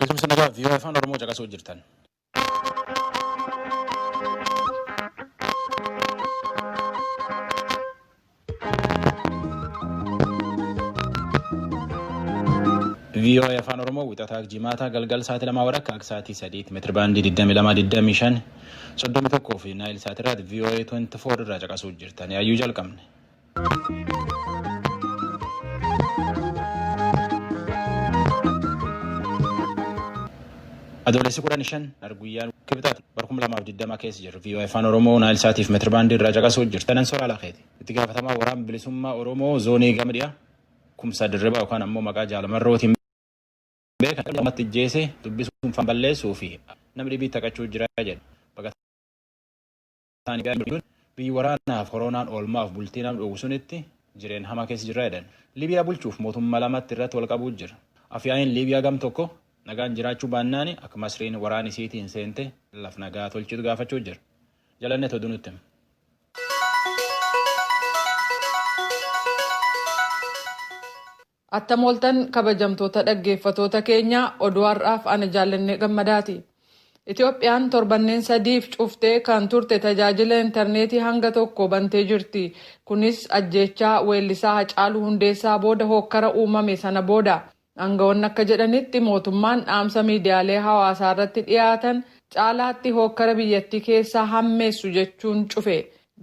Beekumsa nagaa vii'oo afaan Oromoo caqasuu jirtan. VOA Afaan Oromoo wixataa jimaataa galgal sa'aatii lamaa warra akka sa'aatii sadiitti meetira baandii 2225 31 fi naayil sa'aatii irraatti VOA 24 irraa caqasuu jirtan yaayyuu jalqabne. Adoolessi kudhan shan arguyyaan kibxaati bara kuma lamaaf digdama keessa jirru viiyoo afaan oromoo naayil saatiif meetira baandii irraa caqasuu jirtu tanan soraa lakeeti itti gaafatamaa waraan bilisummaa oromoo zoonii gama dhiyaa kumsaa dirribaa yookaan ammoo maqaa jaalamarrootiin beekan namatti ijjeese dubbisuun faan balleessuu fi nama dhibii taphachuu jira jedhe isaanii gaariin biyyi waraanaaf koroonaan oolmaaf bultii nama dhowwu sunitti jireen hamaa keessa jirra jedhan. Liibiyaa bulchuuf mootummaa lamatti irratti wal qabuu jira. Afyaa'iin Liibiyaa gam tokko nagaan jiraachuu baannaani akka Masriin waraan isiitiin seente laf nagaa tolchitu gaafachuu jira. Jalanne toduu nutti hima. Attam ooltan kabajamtoota dhaggeeffatoota keenya oduu har'aaf ana Jaallannee Gammadaati. Itoophiyaan torbanneen sadiif cuftee kan turte tajaajila interneetii hanga tokko bantee jirti. Kunis ajjeechaa weellisaa Hacaaluu Hundeessaa booda hookkara uumame sana booda. Angawoonni akka jedhanitti mootummaan dhaamsa miidiyaalee hawaasaarratti dhiyaatan caalaatti hookkara biyyattii keessaa hammeessu jechuun cufe.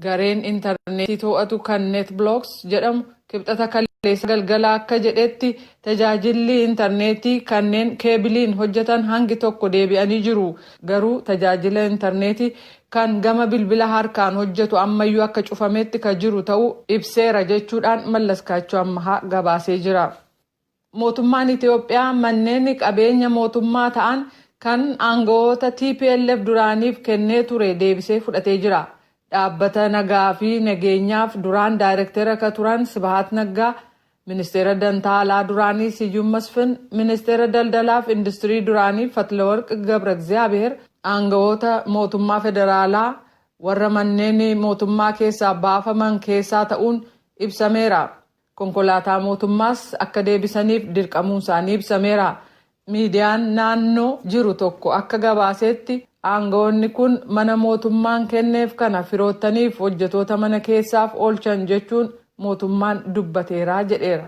Gareen interneetii to'atu kan NetBlocks jedhamu Kibxata kaleessaa galgala akka jedhetti, tajaajilli interneetii kanneen keebiliin hojjetan hangi tokko deebi'anii jiru, garuu tajaajila interneetii kan gama bilbila harkaan hojjetu ammayyuu akka cufametti ka jiru ta'uu ibseera jechuudhaan Mallaskaachoo Ammahaa gabaasee jira. Mootummaan Itoophiyaa manneen qabeenya mootummaa ta'an kan aangawoota tplf duraaniif kennee ture deebisee fudhatee jira. Dhaabbata nagaa fi nageenyaaf duraan daayrektera ka turan Sibahaat Naggaa, Ministeera Dantaa Alaa duraanii Siyyum Masfin, Ministeera Daldalaa fi Industirii duraanii Fatlawarq Gabragziyaabiheer aangawoota mootummaa federaalaa warra manneen mootummaa keessaa baafaman keessaa ta'uun ibsameera. konkolaataa mootummaas akka deebisaniif dirqamuun isaanii ibsameera. Miidiyaan naannoo jiru tokko akka gabaaseetti aanga'oonni kun mana mootummaan kenneef kana firoottaniif hojjetoota mana keessaaf oolchan jechuun mootummaan dubbateera jedheera.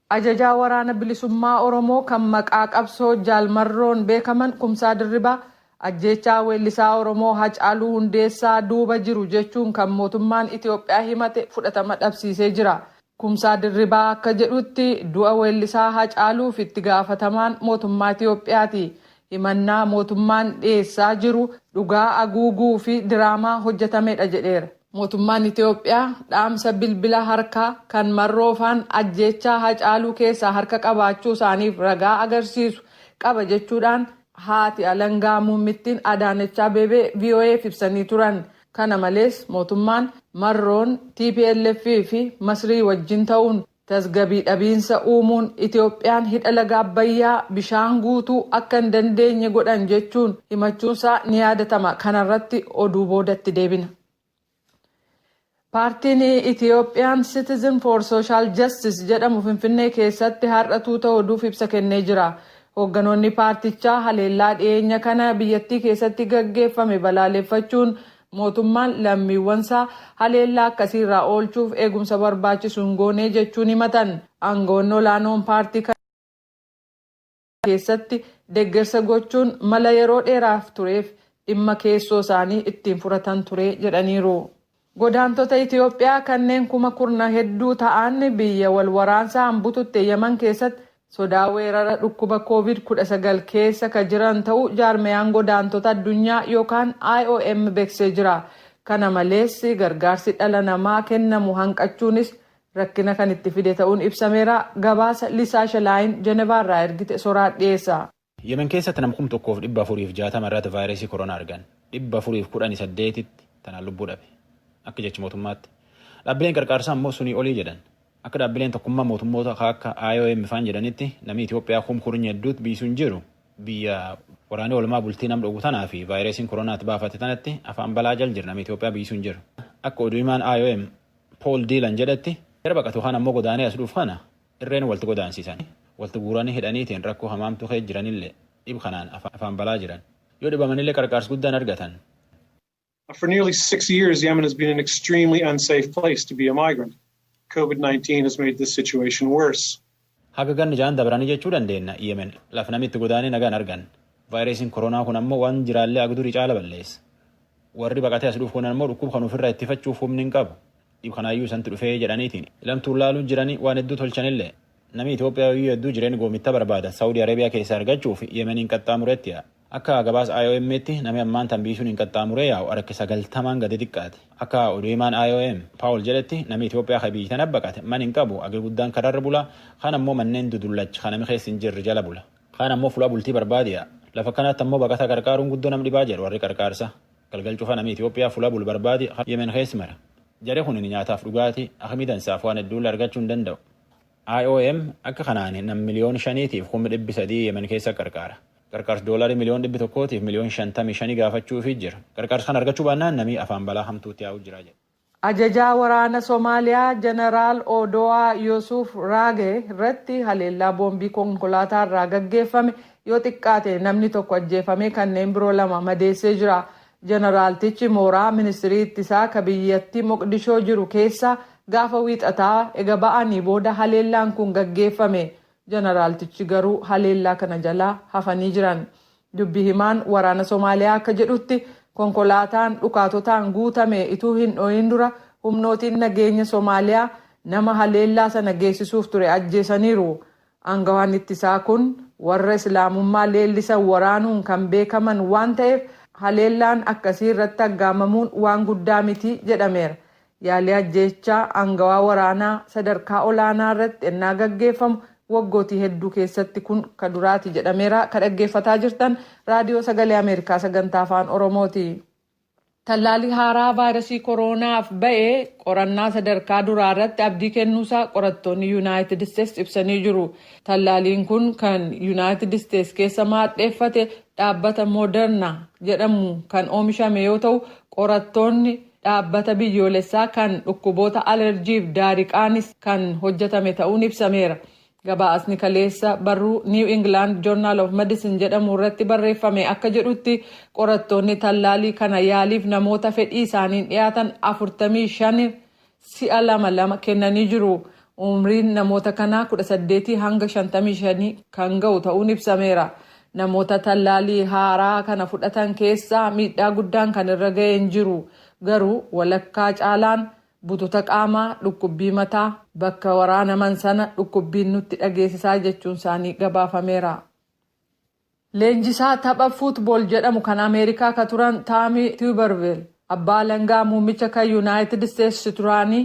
Ajajaa Waraana Bilisummaa Oromoo kan maqaa qabsoo Jaal Marroon beekaman Kumsaa Dirribaa Ajjeechaa weellisaa Oromoo Hacaaluu Hundeessaa duuba jiru jechuun kan mootummaan Itoophiyaa himate fudhatama dhabsiisee jira. Kumsaa Dirribaa akka jedhutti du'a weellisaa Hacaaluuf itti gaafatamaan mootummaa Itoophiyaati. Himannaa mootummaan dhiyeessaa jiru dhugaa aguuguu fi diraamaa hojjetamedha jedheera. Mootummaan Itoophiyaa dhaamsa bilbila harkaa kan Marroo faan ajjeechaa Hacaaluu keessaa harka qabaachuu isaaniif ragaa agarsiisu qaba jechuudhaan Haati alangaa muummittiin Adaanech Abeebee VOA'f ibsanii turan. Kana malees mootummaan Marroon tplf fi Masrii wajjin ta'uun tasgabii dhabiinsa uumuun Itoophiyaan hidha laga Abbayyaa bishaan guutuu akka hin dandeenye godhan jechuun himachuunsaa ni yaadatama. Kanarratti oduu booda itti deebina. Paartiin Ethiopian Citizen for Social Justice jedhamu Finfinnee keessatti har'a tuuta oduuf ibsa kennee jira. Hoogganoonni paartichaa haleellaa dhiyeenya kana biyyattii keessatti gaggeeffame balaaleffachuun mootummaan lammiiwwansaa haleellaa akkasiirraa oolchuuf eegumsa barbaachisu hin goone jechuun himatan. Aangawoonni olaanoon paartii keessatti deggersa gochuun mala yeroo dheeraaf tureef dhimma keessoo isaanii ittiin furatan ture jedhaniiru. Godaantota Itiyoophiyaa kanneen kuma kurna hedduu ta'an biyya wal waraansaan bututte Yaman keessatti sodaa weerara dhukkuba Covid 19 keessa ka jiran ta'uu jaarmayaan godaantota addunyaa yookaan IOM beksee jira. Kana malees gargaarsi dhala namaa kennamu hanqachuunis rakkina kan itti fide ta'uun ibsameera. Gabaasa Lisaa Shelaayin Jenevaa irraa ergite Soraat dhiyeessa. Yemen keessatti nam kum 1 fi 460 irratti vaayiresii koronaa argan. 418tti tanaan lubbuu dhabe. Akka jechi mootummaatti. Dhaabbileen qarqaarsaa ammoo sunii olii jedhan. Akka dhaabbileen tokkummaa mootummoota ka akka IOM faan jedhanitti namii Itoophiyaa kum kurnya hedduutti biyyi sun jiru biyya waraanii olmaa bultii nam dhogu tanaa fi vaayiresiin koronaatti baafate tanatti afaan balaa jal jira namii Itoophiyaa biyyi sun jiru. Akka oduu himaan IOM Pool Diilan jedhetti, jara baqatu kaan ammoo godaanee as dhuuf kana irreen walti godaansiisan. Walti guuranii hidhaniitiin rakkoo hamaamtuu keessa jiranillee dhib kanaan afaan balaa jiran. Yoo dhibamanillee qarqaarsi guddaan argatan. For nearly six years, Yemen has been an extremely unsafe place to be a migrant. Covid 19 has made this situation worse. Haga ganna ja'an dabranii jechuu dandeenna Yemen lafa nami itti godaanee nagaa hin arganne. Vaayireesiin koroonaa kun ammoo waan jiraallee haga durii caala balleessa. Warri baqatee as dhufu kun ammoo dhukkuba kana ufirraa ittifachuuf humni hin qabu. Dhib kanaayyuu isantu dhufee jedhaniitiin ilamtuun laaluun jiranii waan hedduu tolchanillee. Nami Itoophiyaa yooyyuu hedduu jireen goomitta barbaada Sa'udi Areebiyaa keessaa argachuuf Yemeniin qaxxaamureetti yaa'a. Akka gabaasa IOM'tti nami ammaan tan biyyi suniin qaxxaamuree yaa'u harki sagaltamaan gadi diqqaate. Akka oduu himaan IOM, Paul jedhetti nami Itoophiyaa ka biyyi tana baqate man hin qabu, hagi guddaan karaa irra bula, kaan ammoo manneen dudullacha ka nami keessa hin jirre jala bula. Kaan ammoo fulaa bultii barbaade yaa'a. Lafa akkanaatti ammoo baqataa qarqaaruun guddoo nama dhibaa jedha warri qarqaarsaa. Galgal cufa nami Itoophiyaa fulaa bulu barbaade ka Yemen keessa mara. Jari kunin nyaataaf dhugaatii, akimii dansaaf waan hedduulle argachuu hin danda'u. IOM akka kanaan nam miliyoon shaniitiif kum dhibbi sadii Yemen keessa qarqaara. Qarqaarsi doolarii miliyoon dhibbi tokkootiif miliyoon shantamii shanii gaafachuufii jira. Qarqaarsi kana argachuu baannaan namii afaan balaa hamtuutti yaa'uu jira jedhe. Ajajaa waraana Somaaliyaa Janaraal Oodowaa Yosuuf Raage irratti haleellaa boombii konkolaataa irraa gaggeeffame yoo xiqqaate namni tokko ajjeefamee kanneen biroo lama madeessee jira. Janaraaltichi mooraa ministrii ittisaa ka biyyattii Moqdishoo jiru keessaa gaafa Wiixataa ega ba'anii booda haleellaan kun gaggeeffame. Janaraaltichi garuu haleellaa kana jalaa hafanii jiran. Dubbi himaan waraana Somaaliyaa akka jedhutti konkolaataan dhukaatotaan guutame ituu hin dho'iin dura humnootiin nageenya Somaaliyaa nama haleellaa sana geessisuuf ture ajjeesaniiru. Aangawaan ittisaa kun warra Islaamummaa leellisan waraanuun kan beekaman waan ta'eef haleellaan akkasii irratti aggaamamuun waan guddaa miti jedhameera. Yaalii ajjeechaa aangawaa waraanaa sadarkaa olaanaa irratti ennaa gaggeeffamu waggootii hedduu keessatti kun ka duraati jedhameera. Ka dhaggeeffataa jirtan Raadiyoo Sagalee Ameerikaa Sagantaa Afaan Oromooti. Tallaalii haaraa vaayrasii koroonaaf ba'e qorannaa sadarkaa duraa irratti abdii kennuusaa qorattoonni Yunaayitid Isteets ibsanii jiru. Tallaaliin kun kan Yunaayitid Isteets keessa maadheeffate dhaabbata Moderna jedhamu kan oomishame yoo ta'u, qorattoonni dhaabbata biyyoolessaa kan dhukkuboota alerjiif daariqaanis kan hojjetame ta'uun ibsameera. Gabaasni kaleessa barruu New England Journal of Medicine jedhamu irratti barreeffame akka jedhutti, qorattoonni tallaalii kana yaaliif namoota fedhii isaaniin dhiyaatan 45 si'a lama lama kennanii jiru. Umriin namoota kanaa 18 hanga 55 kan ga'u ta'uun ibsameera. Namoota tallaalii haaraa kana fudhatan keessaa miidhaa guddaan kan irra ga'e hin jiru. Garuu walakkaa caalaan Bututa qaamaa, dhukkubbii mataa, bakka waraanaman sana dhukkubbiin nutti dhageesisaa jechuun isaanii gabaafameera. Leenjisaa tapha Foot Ball jedhamu kan Ameerikaa ka turan Taami Tuubarvil abbaa alangaa muummicha ka Yunaayitid Isteets duraanii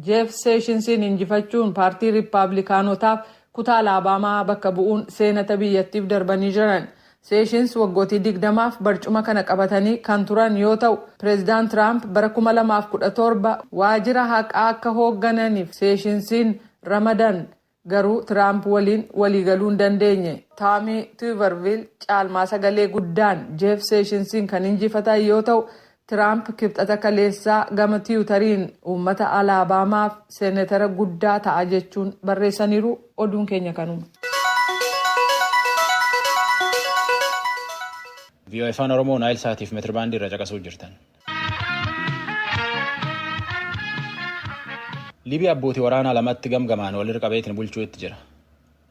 Jeef Seeshinsiin injifachuun paartii Rippaablikaanotaaf kutaa Alaabaamaa bakka bu'uun seenata biyyattiif darbanii jiran. Seeshins waggootii 20f barcuma kana qabatanii kan turan yoo ta'u, Pireezidant Tiraamp bara 2017 waajira haqaa akka hooggananiif Seeshinsiin ramadan, garuu Tiraamp waliin waliigaluu hin dandeenye. Taamii Tuuvarviil caalmaa sagalee guddaan Jeef Seeshinsiin kan injifatan yoo ta'u, Tiraamp Kibxata kaleessaa gama Tiwutariin uummata Alaabaamaaf Seenetara guddaa ta'a jechuun barreessaniiru. Oduun keenya kanuma. VOA Afaan Oromoo Naayil Saatiif meetirbaandii irra caqasuu jirtan. Liibiyaa abbootii waraanaa lamatti gamgamaan walirra qabeetiin bulchuu itti jira.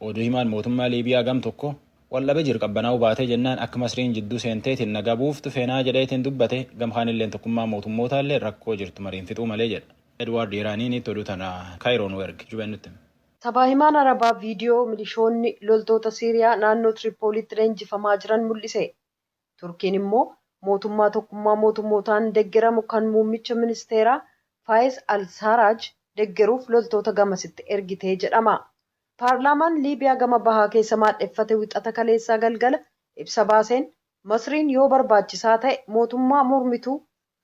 Oduu himaan mootummaa Liibiyaa gam tokko Wal dhabe jir qabbanaa'uu baatee jennaan akka Masriin jidduu seenteetiin nagaa buuftu feenaa jedheetiin dubbate, gam kaanilleen tokkummaan mootummootaallee rakkoo jirtu mariin fixuu malee jedha. Edwaard Yeraaniiniitti oduu tana Kaayiroo nuu erge. Jubeen nutti hima. Sabaahimaan Arabaa viidiyoo milishoonni loltoota Siiriyaa naannoo Tiriippooliitti leenjifamaa jiran mul'ise. Turkiin immoo mootummaa tokkummaa mootummootaan deggeramu kan muummicha ministeeraa Faayez al-Saaraaj deggeruuf loltoota gamasitti ergite jedhama. Paarlaamaan Liibiyaa gama bahaa keessa maadheffate Wixata kaleessaa galgala ibsa baaseen, Masriin yoo barbaachisaa ta'e mootummaa mormituu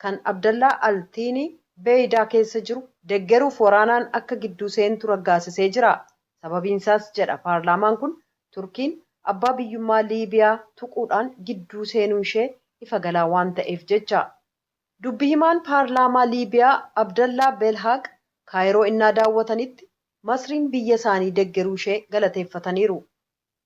kan Abdallaa al-Thiini Beeydaa keessa jiru deggeruuf waraanaan akka gidduu seentu raggaasisee jira. Sababiinsaas jedha paarlaamaan kun Turkiin abbaa biyyummaa Liibiyaa tuquudhaan gidduu seenuunshee ifa galaa waan ta'eef jecha. Dubbi himaan paarlaamaa Liibiyaa Abdallaa Belhaaq Kaayiroo innaa daawwatanitti Masriin biyya isaanii deggeruushee galateeffataniiru.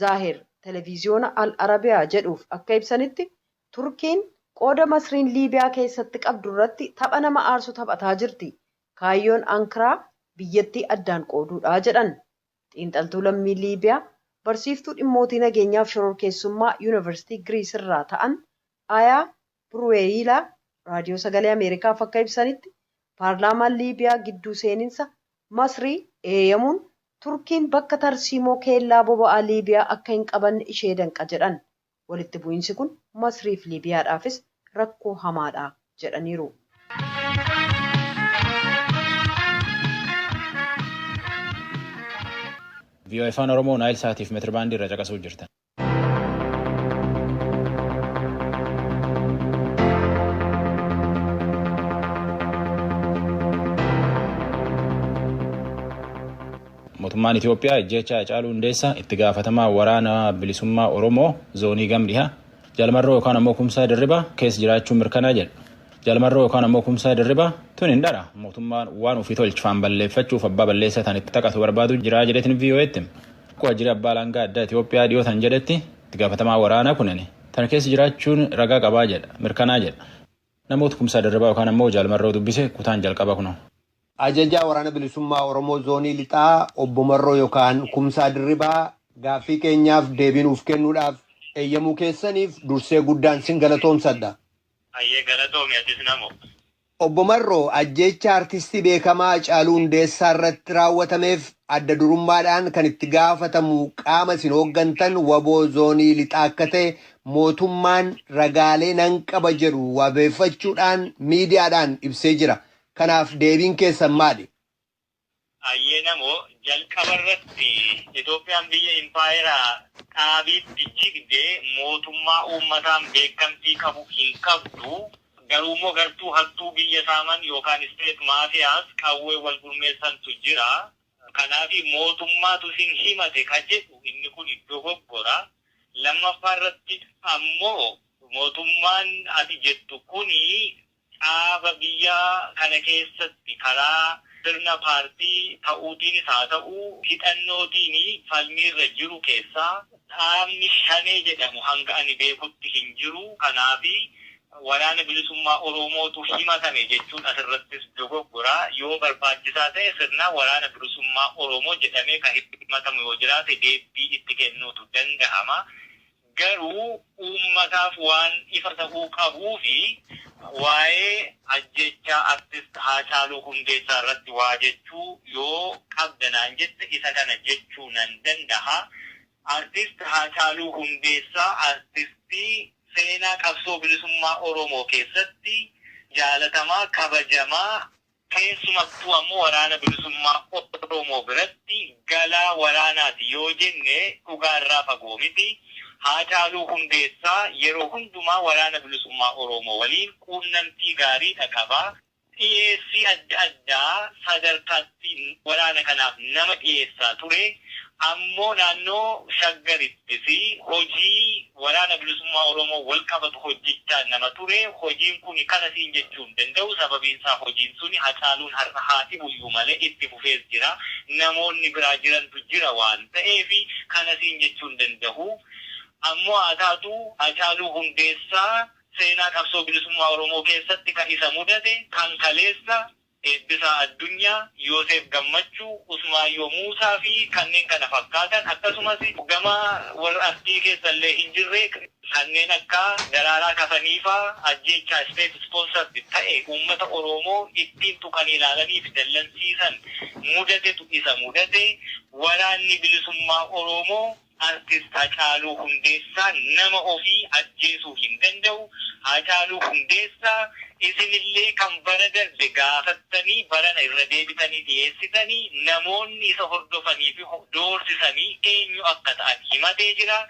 Zaahir Televiziyoona Al Arabiyaa jedhuuf akka ibsanitti, Turkiin qooda Masriin Liibiyaa keessatti qabdu irratti tapha nama aarsu taphataa jirti. Kaayyoon Ankiraa biyyattii addaan qooduudha, jedhan. Xiinxaltuu lammii Liibiyaa, barsiiftuu dhimmootii nageenyaaf shororkeessummaa Yunivarsiitii Giriis irraa ta'an Ayaa Piruweeyiilaa Raadiyoo Sagalee Ameerikaaf akka ibsanitti, paarlaamaan Liibiyaa gidduu seeninsa Masrii eeyamuun Turkiin bakka tarsiimoo keellaa boba'aa Liibiyaa akka hin qabanne ishee danqa jedhan. Walitti bu'iinsi kun Masriif Liibiyaadhaafis rakkoo hamaadha jedhaniiru. Vii'oo'ee Afaan Oromoo Naayil Saatiif Meetirbaandii irraa caqasuu jirtan. Mootummaan Itoophiyaa ajjeechaa Hacaaluu Hundeessaa itti gaafatamaa waraana bilisummaa Oromoo zoonii gam dhihaa Jalmarroo yookaan ammoo Kumsaa Dirribaa keessa jiraachuun mirkanaa jedha. Jalmarroo yookaan ammoo Kumsaa Dirribaa tun hin dhara mootummaan waan ofii tolchifaan balleeffachuuf abbaa balleessaa tan itti taphatu barbaadu jiraa jedheetiin VOA'tti. Akka waajjirri abbaa alangaa addaa Itoophiyaa dhiyoo tan jedhetti itti gaafatamaa waraanaa kunin tana keessa jiraachuun ragaa qabaa jedha mirkanaa jedha. Namoota Kumsaa Dirribaa yookaan ammoo Jaal Marroo dubbise kutaan jalqabaa kunoo. Ajajaa Waraana Bilisummaa Oromoo Zoonii Lixaa Obbo Marroo yookaan Kumsaa Dirribaa gaaffii keenyaaf deebii nuuf kennuudhaaf eeyyamuu keessaniif dursee guddaan sin galatoomsadha. Hayyee galatoomi atis namo. Obbo Marroo, ajjeechaa Artistii beekamaa Hacaaluu Hundeessaa irratti raawwatameef adda durummaadhaan kan itti gaafatamu qaama isin hooggantan wbo Zoonii Lixaa akka ta'e mootummaan ragaalee nan qaba jedhu wabeeffachuudhaan miidiyaadhaan ibsee jira. Kanaaf deebiin keessan maali? Hayyee namoo, jalqaba irratti Itoophiyaan biyya impaayera dhaabiitti jigde mootummaa uummataan beekamtii qabu hin qabdu. Garuu immoo gartuu hattuu biyya saaman yookaan state mafias qawween wal gurmeessantu jira. Kanaaf mootummaatu isin himate ka jedhu inni kun dogoggora. Lammaffaa irratti ammoo mootummaan ati jettu kun Caaba biyya kana keessatti karaa sirna paartii ta'uutiinis haa ta'u hidhannootiin falmiirra jiru keessaa dhaabni Shanee jedhamu hanga ani beekutti hin jiru. Kanaaf Waraana Bilisummaa Oromootu himatame jechuun asirrattis dogoggora. Yoo barbaachisaa ta'e sirna Waraana Bilisummaa Oromoo jedhamee kan himatamu yoo jiraate deebbii itti kennuutu danda'ama. Garuu uummataaf waan ifa ta'uu qabuufi waa'ee ajjeechaa Artist Haacaaluu Hundeessaa irratti waa jechuu yoo qabda naan jette isa kana jechuu nan dandaha. Artist Haacaaluu Hundeessaa artistii seenaa qabsoo bilisummaa Oromoo keessatti jaalatamaa, kabajamaa, Keessumattuu ammoo Waraana Bilisummaa Oromoo biratti galaa waraanaati yoo jenne dhugaa irraa fagoo miti. Haacaaluu Hundeessaa yeroo hundumaa Waraana Bilisummaa Oromoo waliin quunnamtii gaariidha qaba. Dhiyeessii adda addaa sadarkaatti waraana kanaaf nama dhiyeessaa ture. Ammoo naannoo Shaggaritti. fi hojii Waraana Bilisummaa Oromoo wal qabatu hojjechaa nama ture, hojiin kuni kana siin jechuu hin danda'u, sababiin isaa hojiin suni Hacaaluun har'a haa dhibu iyyuu malee itti fufees jira, namoonni biraa jirantu jira waan ta'eef kana siin jechuu hin dandahu, ammoo haa taatu Hacaaluu Hundeessaa seenaa qabsoo bilisummaa Oromoo keessatti kan isa mudate kan kaleessa, Eebbisaa Addunyaa, Yooseef Gammachuu, Usmaayyoo Muusaa fi kanneen kana fakkaatan akkasumas gama warra artii keessa illee hin jirre kanneen akka Daraaraa Kafanii faa ajjeechaa state sponsored ta'e uummata Oroomoo ittiin tuqanii ilaalanii fi dallansiisan mudatetu isa mudate, Waraanni Bilisummaa Oroomoo Artist Hacaaluu Hundeessaa nama ofii ajjeesuu hin danda'u. Haacaaluu Hundeessaa isinillee kan bara darbe gaafattanii barana irra deebitanii dhiyeessitanii namoonni isa hordofanii fi doorsisanii eenyu akka ta'an himatee jira.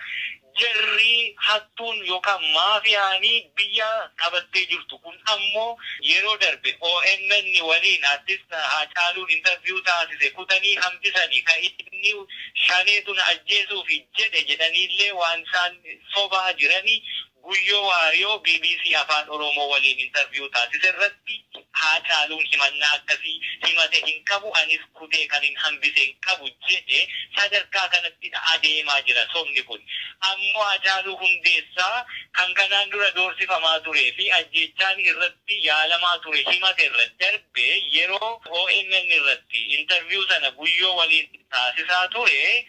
Jarri hattuun yookaan maafiyaan biyya qabattee jirtu kun ammoo yeroo darbe omn waliin Artist Haacaaluun interview taasise kutanii hambisanii ka inni shaneetu na ajjeesuufi jedhe jedhaniillee waan isaan sobaa jirani Guyyoo Waariyoo bbc Afaan Oromoo waliin interview taasise irratti Haacaaluun himannaa akkasii himate hin qabu anis kutee kanin hambise hin qabu jedhe sadarkaa kanattidha adeemaa jira sobni kun ammoo Haacaaluu Hundeessaa kan kanaan dura doorsifamaa turee fi ajjeechaan irratti yaalamaa ture himate irra darbee yeroo omn irratti interview sana Guyyoo waliin taasisaa ture,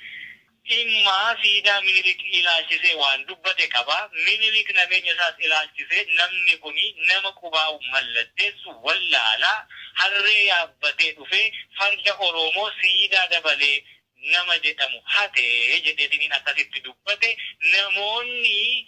dhimma siidaa Minilik ilaalchisee waan dubbate qaba. Minilik nabeenya isaas ilaalchisee namni kuni nama qubaa'u mallatteessu wallaala, harree yaabbatee dhufee farda Oroomoo siidaa dabalee nama jedhamu hate jedheetiniin akkasitti dubbate. Namoonni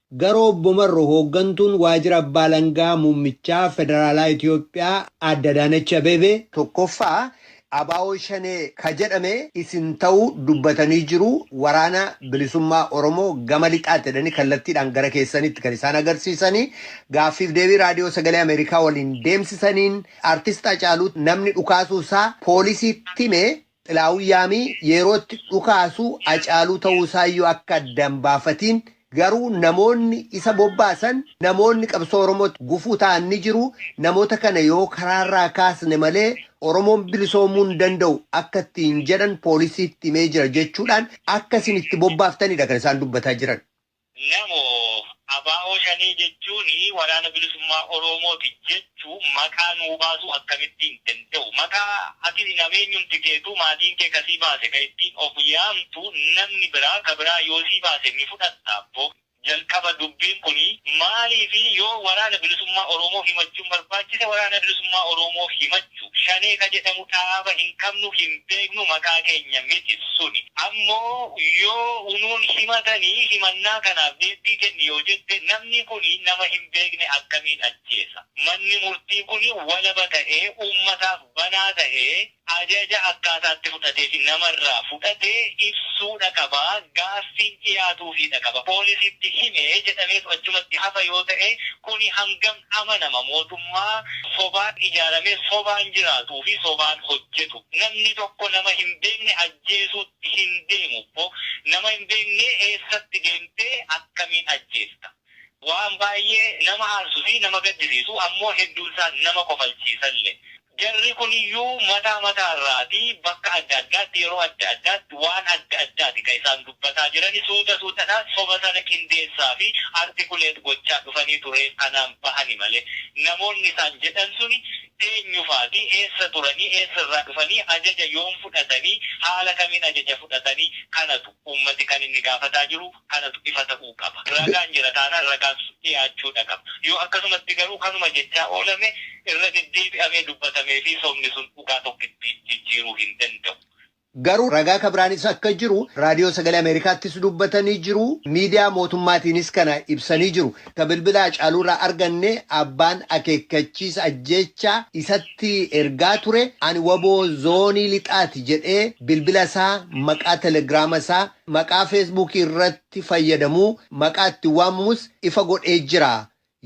Garuu Obbo Marro hooggantuun Waajjira Abbaa Alangaa Muummichaa Federaalaa Itiyoophiyaa Aadde Adaanech Abeebee, 1ffaa Abaawoo Shanee ka jedhame isin ta'uu dubbatanii jiru Waraana Bilisummaa Oromoo gama Lixaati jedhanii kallattiidhaan gara keessanitti kan isaan agarsiisanii gaaffiif deebii Raadiyoo Sagalee Ameerikaa waliin deemsisaniin Artist Hacaaluu namni dhukaasuu isaa poolisiitti hime Xilaahun Yaamii yeroo itti dhukaasu Hacaaluu ta'uu isaayyuu akka adda hin baafatiin garuu namoonni isa bobbaasan namoonni qabsoo Oromootti gufuu ta'an ni jiru, namoota kana yoo karaarraa kaasne malee Oromoon bilisoomuu hin danda'u akka ittiin jedhan poolisiitti himee jira jechuudhaan akka isin itti bobbaaftanidha kan isaan dubbataa jiran. Namo, Abo Shanee jechuun Waraana Bilisummaa Oromooti jechuun maqaa nuu baasuu akkamittiin danda'u? Maqaa ati fi nameenyumti keetuu maatiin kee ka si baase ka ittiin of yaamtu namni biraa ka biraa yoo si baase ni fudhatta? Abbo. Jalqaba dubbiin kuni maaliifi yoo Waraana Bilisummaa Oromoof himachuun barbaachise Waraana Bilisummaa Oromoof himachuu. jechuu. Shanee ka jedhamu dhaaba hin qabnu hin beeknu maqaa keenya miti suni. Ammoo yoo unuun himatani himannaa kanaaf deebbii kenni yoo jette namni kuni nama hin beekne akkamiin ajjeesa? Manni murtii kuni walaba ta'ee uummataaf banaa ta'ee ajaja akkaataa itti fudhatee fi nama irraa fudhate ibsuudha qaba, gaaffiin dhiyaatuufiidha qaba. Poolisiitti hime jedhameetu achumatti hafa yoo ta'e kuni hangam. amanama mootummaa sobaan ijaaramee sobaan jiraatuu fi sobaan hojjetu namni tokko nama hin beekne ajjeesuutti hin deemu bbo nama hin beeknee eessatti deemtee akkamiin ajjeesta waan baay'ee nama aarsu fi nama gaddisiisu ammoo hedduun isaa nama kofalchiisalle Jarri kun iyyuu mataa mataa irraati bakka adda addaatti yeroo adda addaatti waan adda addaati kan isaan dubbataa jirani suuta suutadhaan soba sana qindeessaa fi articulate gochaa dhufaniitu reef kanaan bahani malee namoonni isaan jedhan suni eenyu faati eessa turanii eessa irraa dhufanii ajaja yoom fudhatanii haala kamiin ajaja fudhatani kanatu uummati kan inni gaafataa jiru kanatu ifa ta'uu qaba. Ragaan jira taanaan ragaan sun dhiyaachuudha qaba. Yoo akkasumatti garuu kanuma jechaa oolame irra deddeebi'amee dubbatamee fi sobni sun dhugaa tokkitti jijjiiruu hin danda'u. Garuu ragaa ka biraanis akka jiru Raadiyoo Sagalee Ameerikaattis dubbatanii jiru, miidiyaa mootummaatiinis kana ibsanii jiru. Ka bilbila Hacaaluurraa arganne abbaan akeekkachiisa ajjeechaa isatti ergaa ture ani wbo zoonii lixaati jedhee bilbila isaa maqaa telegiraama isaa Maqaa Feesbuukii irratti fayyadamuu maqaa ittiin waamamus ifa godhee jira.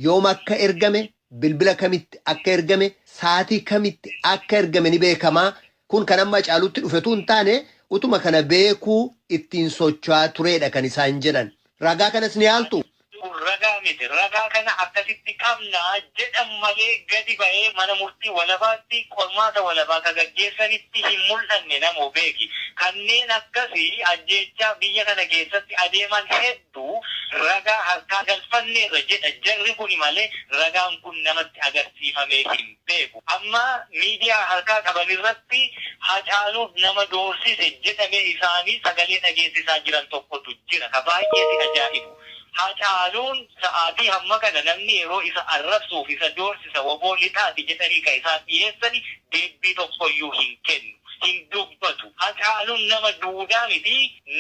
Yoom akka ergame, bilbila kamitti akka ergame, saatii kamitti akka ergame ni beekama. Kun kan amma Hacaaluutti dhufe utuu hin taane utuma kana beekuu ittiin socho'aa tureedha kan isaan jedhan. Ragaa kanas ni haaltuu? Kun ragaa miti, ragaa kana akkasitti qabna jedhan malee gadi ba'ee mana murtii walabaatti qormaata walabaa ka gaggeessanitti hin mul'anne namoo beeki. Kanneen akkasi ajjeechaa biyya kana keessatti adeeman heddu ragaa harkaa galfanneerra jedha jarri kuni malee ragaan kun namatti agarsiifamee hin. beeku. Amma miidiyaa harkaa qaban irratti Hacaaluuf nama doorsise jedhame isaanii sagalee dhageessisaa jiran tokkotu jira. Ka baay'ee si ajaa'ibu, Hacaaluun sa'aatii hamma kana namni yeroo isa arrabsuu fi isa doorsisa wbo lixaati jedhanii ka isaan dhiyeessani deebbii tokkoyyuu hin kennu. Hin dubbatu. Hacaaluun nama duudaa miti,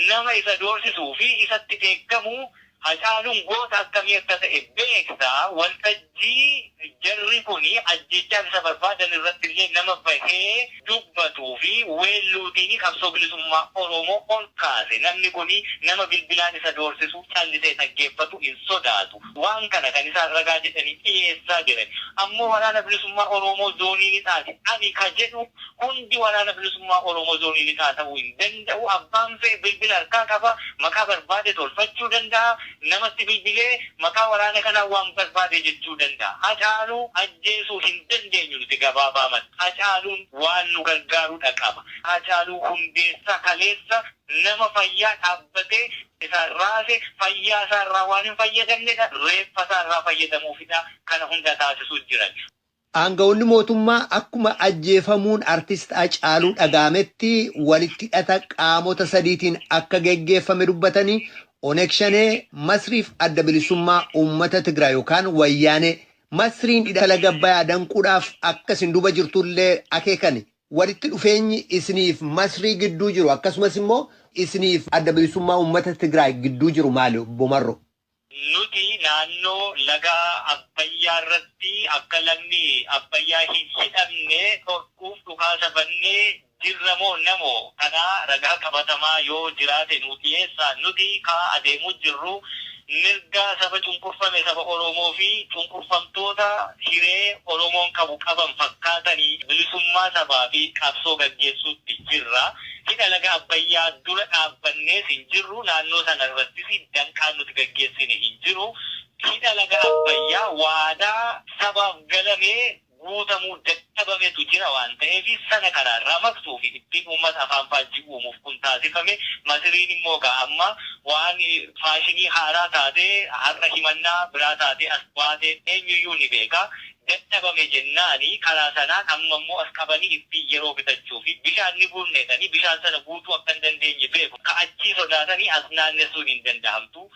nama isa doorsisuu fi isatti dheekkamu Hacaaluun goota akkamii akka ta'e beekta, waltajjii jarri kun ajjeechaa isa barbaadan irratti illee nama bahee dubbatuu fi weelluutiin qabsoo bilisummaa Oromoo ol kaase. Namni kun nama bilbilaan isa doorsisu, callisee dhaggeeffatu hin sodaatu. Waan kana kan isaan ragaa jedhanii dhiyeessaa jiran ammoo Waraana Bilisummaa Oroomoo Zoonii Lixaati. Ani ka jedhu Hundi Waraana Bilisummaa Oromoo Zoonii Lixaa ta'uu hin danda'u. Abbaan fe'e bilbila harkaa qaba. Maqaa barbaade tolfachuu danda'a. Namatti bilbilee maqaa waraana kanaa waan barbaade jechuu danda'a. Hacaaluu ajjeesuu hin dandeenyu nuti gabaabaamatti. Hacaaluun waan nu gargaarudha qaba. Hacaaluu Hundeessaa kaleessa nama fayyaa dhaabbatee isaan raase, fayyaa isaa irraa waan hin fayyadamnedha. Reeffa isaa irraa fayyadamuufidha kana hunda taasisuu jiran. Aanga'oonni mootummaa akkuma ajjeefamuun Artist Hacaaluu dhaga'ametti walitti hidhata qaamota sadiitiin akka geggeeffame dubbatanii, Oneg Shanee, Masrii fi Adda Bilisummaa Uummata Tigraay yookaan Wayyaanee, Masriin hidha laga Abbayaa danquudhaaf akka isin duuba jirtu illee akeekani. Walitti dhufeenyi isinii fi Masrii gidduu jiru akkasumas immoo isinii fi Adda Bilisummaa Uummata Tigraay gidduu jiru maali? Obbo Marroo. Nuti naannoo laga Abbayyaa irratti akka lagni Abbayyaa hin hidhamne dhorkuuf dhukaasa bannee jirra moo namo? Kanaa ragaa qabatamaa yoo jiraate nuu dhiyeessaa. Nuti kaa adeemuu jirru mirga saba cunqurfame saba Oromoo fi cunqurfamtoota hiree Oromoon qabu qaban fakkaatanii bilisummaa sabaa fi qabsoo gaggeessuutti jirra. Hidha laga Abbayyaa dura dhaabbannees hin jirru, naannoo sana irrattis danqaan nuti gaggeessine hin jiru. Hidha laga Abbayyaa waadaa sabaaf galame guutamuu dadhabametu jira waan ta'eef sana karaa irraa maqsuu fi ittiin uummata afaan faajjii uumuuf kun taasifame. Masiriin immoo egaa amma waan faashinii haaraa taatee har'a himannaa biraa taatee as baate eenyuyyuu ni beeka. dadhabame jennaani karaa sanaan amma immoo as qabanii ittiin yeroo bitachuu fi bishaan ni guurna jedhanii bishaan sana guutuu akka hin dandeenye beeku ka achii sodaatanii as naannessuun hin dandahamtu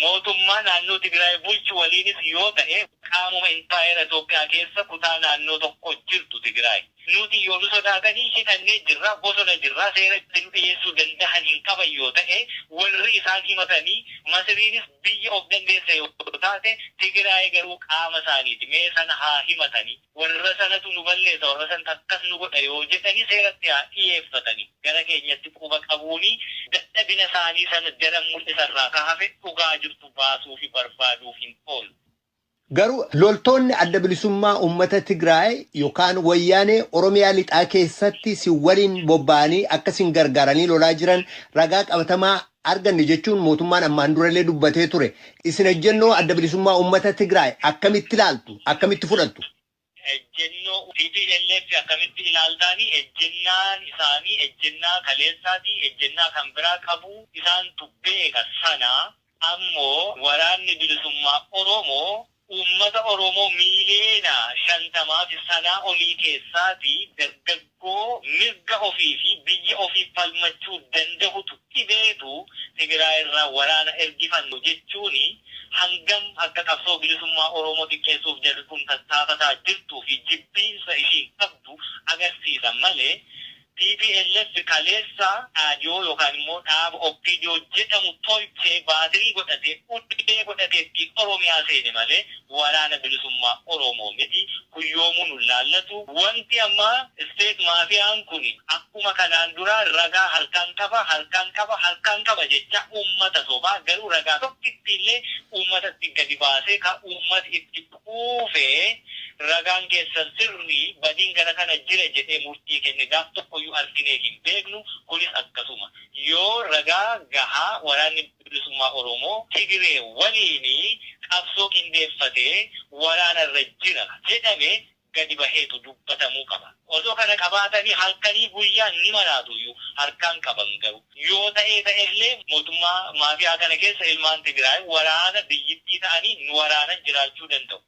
mootummaa naannoo Tigiraay bulchu waliinis yoo ta'e qaamuma impaayera Itoophiyaa keessa kutaa naannoo tokko jirtu Tigiraay. Nuti yoo nu sodaatanii hidhannee jirra, bosona jirra, seera itti nu dhiyeessuu dandahan hin qaban yoo ta'e, warri isaan himatanii, Masiriinis biyya of dandeesse yoo taate, Tigiraayi garuu qaama isaaniiti, mee sana haa himatani, warra sanatu nu balleessa, warra santu akkas nu godha yoo jedhani seeratti haa dhiyeeffatani, gara keenyatti quba qabuuni dadhabina isaanii sana daran mul'isa irraa ka hafe dhugaa jirtu baasuufi barbaaduuf hin oolu. Garuu loltoonni Adda Bilisummaa Uummata Tigraay yookaan Wayyaanee Oromiyaa Lixaa keessatti sin waliin bobba'anii akka sin gargaaranii lolaa jiran ragaa qabatamaa arganne jechuun mootummaan ammaan durallee dubbatee ture. Isin ejjennoo Adda Bilisummaa Uummata Tigraay akkamitti ilaaltu? Akkamitti fudhattu? Ejjennoo tplf akkamitti ilaaltaani? Ejjennaan isaanii ejjennaa kaleessaati, ejjennaa kan biraa qabu. Isaantu beeka sana. Ammoo Waraanni Bilisummaa Oromoo uummata Oromoo miiliyoona 50 fi sanaa olii keessaati dargaggoota. koo mirga ofii fi biyya ofiif falmachuu dandahutu dhibeetu Tigiraay irraa waraana ergifannu jechuun hangam akka qabsoo bilisummaa Oromoo xiqqeessuuf jarri kun tattaafataa jirtuu fi jibbiinsa ishiin qabdu agarsiisa malee tplf kaleessa Dhaadiyoo yookaan immoo dhaaba Oppiidiyoo jedhamu tolchee baatirii godhatee ulee godhatee ittiin Oromiyaa seene malee Waraana bilisummaa Oromoo miti kun yoomuu nun laallatu wanti amma state maafiyaan kun akkuma kanaan duraa ragaa harkaan qaba harkaan qaba harkaan qaba jechaa uummata sobaa garuu ragaa tokkittii illee uummatatti gadi baasee ka uummati itti quufee ragaan keessan sirrii badiin gara kana jira jedhee murtii kenne gaaf tokkoyyuu arginee hin beeknu kunis akkasuma yoo ragaa gahaa waraanni Bilisummaa Oromoo Tigiree waliin qabsoo qindeeffatee waraana irra jira jedhame gadi baheetu dubbatamuu qaba. Osoo kana qabaatanii halkanii guyyaan ni maraatuuyyu. Harkaa hin qaban garuu. Yoo ta'ee ta'ellee mootummaa maafiyaa kana keessa ilmaan Tigiraay waraana biyyittii ta'anii nu waraanan jiraachuu danda'u.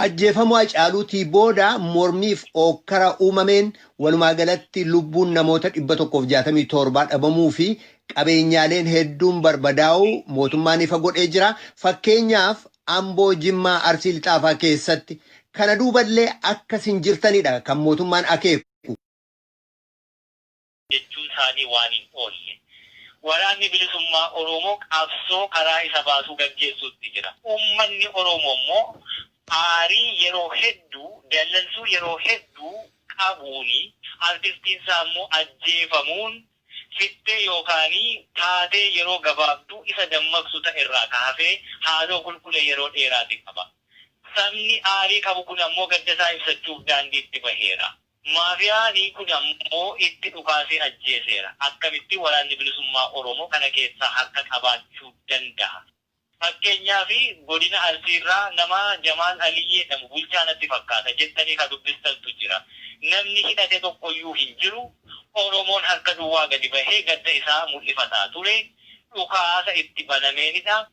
Ajjeefamuu Hacaaluutii booda mormiif ookkara uumameen walumaa galatti lubbuun namoota 167 dhabamuu fi qabeenyaaleen hedduun barbadaa'uu mootummaan ifa godhee jira. Fakkeenyaaf Amboo, Jimmaa, Arsii Lixaa faa keessatti. Kana duuballee akkas hin jirtanidha kan mootummaan akeeku. jechuun isaanii waan hin oolle. Waraanni Bilisummaa Oroomoo qabsoo karaa isa baasuu gaggeessuutti jira. Uummanni Oroomoo immoo aarii yeroo hedduu, dallansuu yeroo hedduu qabuun artistiin isaa immoo ajjeefamuun fittee yookaan taatee yeroo gabaabduu isa dammaqsu ta'e irraa ka hafe haaloo kulkule yeroo dheeraati qaba. Sabni aarii qabu kun ammoo gadda isaa ibsachuuf daandiitti baheera. Maafiyaanii kun ammoo itti dhukaasee ajjeeseera. Akkamitti Waraanni Bilisummaa Oromoo kana keessaa harka qabaachuu dandaha? Fakkeenyaaf Godina Arsiirraa nama Jamaal Alii jedhamu bulchaa natti fakkaata jettanii ka dubbistantu jira. Namni hidhate tokkoyyuu hin jiru. Oromoon harka duwwaa gadi bahee gadda isaa mul'ifataa ture. Dhukaasa itti banameenidha.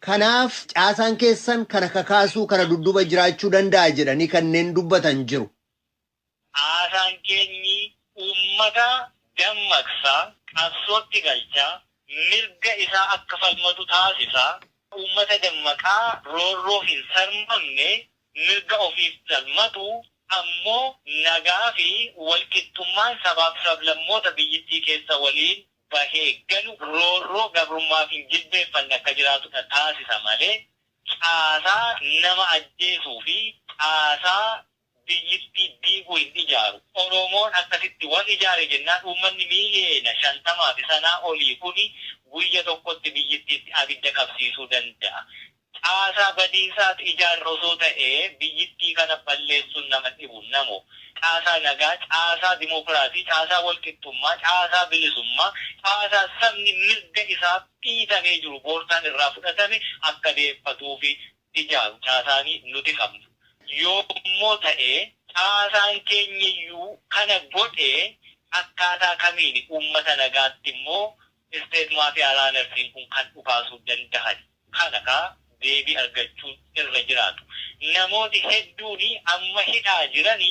Kanaaf caasaan keessan kana kakaasuu kana dudduuba jiraachuu danda'a jedhanii kanneen dubbatan jiru. Caasaan keenyi uummata dammaqsa, qabsootti galcha, mirga isaa akka falmatu taasisa, uummata dammaqaa roorroof hin sarmamne, mirga ofiif falmatu, ammoo nagaa fi walqixxummaan sabaaf sablammoota biyyittii keessa waliin bahee galu roorroo gabrummaa fi jilbeeffanni akka jiraatudha taasisa malee caasaa nama ajjeesuu fi caasaa biyyittii diigu hin ijaaru. Oromoon akkasitti wal ijaare jennaan uummanni miiliyeena 50 fi sanaa olii kuni guyya tokkotti biyyittiitti abidda qabsiisuu danda'a. Caasaa badiisaatu ijaarra osoo ta'ee biyyittii kana balleessuun nama dhibu namo. Caasaa nagaa, caasaa dimookiraasii, caasaa walqixxummaa, caasaa bilisummaa, caasaa sabni mirga isaaf dhiitamee jiru boortaan irraa fudhatame akka deeffatuufi ijaaru caasaani nuti qabnu. Yoommoo ta'ee caasaan keenyayyuu kana godhee akkaataa kamiini uummata nagaatti immoo state mafia runners-n kun kan dhukaasuu dandahani? kana ka deebii argachuun irra jiraatu. Namooti hedduuni amma hidhaa jirani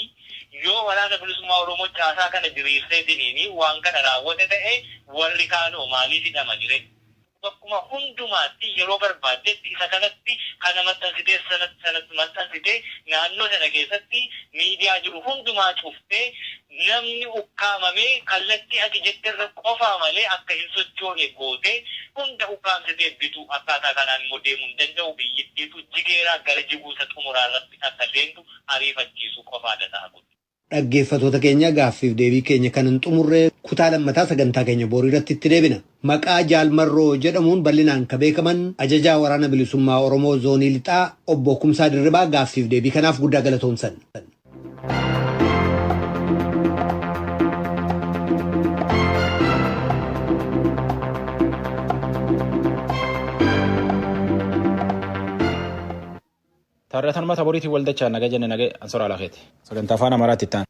yoo Waraana Bilisummaa Oromoo caasaa kana diriirseetiniini waan kana raawwate ta'e warri kaanoo maaliif hidhamani re? Bakkuma hundumaatti yeroo barbaaddetti isa kanatti kana maxxansitee sanatti maxxansitee naannoo sana keessatti miidiyaa jiru hundumaa cuftee Namni ukkaamamee kallattii ati jetterra qofaa malee akka hin sochoone gootee hunda ukkaamsitee bituu akkaataa kanaan immoo deemuu hin danda'u biyyittiitu jigeeraa gara jiguu isa xumuraa irratti akka seentu ariifachiisuu qofaadha ta'a kun. Dhaggeeffatoota keenya gaaffiif deebii keenya kan hin xumurre kutaa lammataa sagantaa keenya boriiratti itti deebina. Maqaa Jaal Marroo jedhamuun bal'inaan ka beekaman Ajajaa Waraana Bilisummaa Oromoo Zoonii Lixaa Obbo Kumsaa Dirribaa gaaffiif deebii kanaaf guddaa galatoomsan. Taarratanuma taboriitiin waldachaa naga jenne naga ansoraa lafeeti. Sagantaa afaan Amaaraatti itti aana.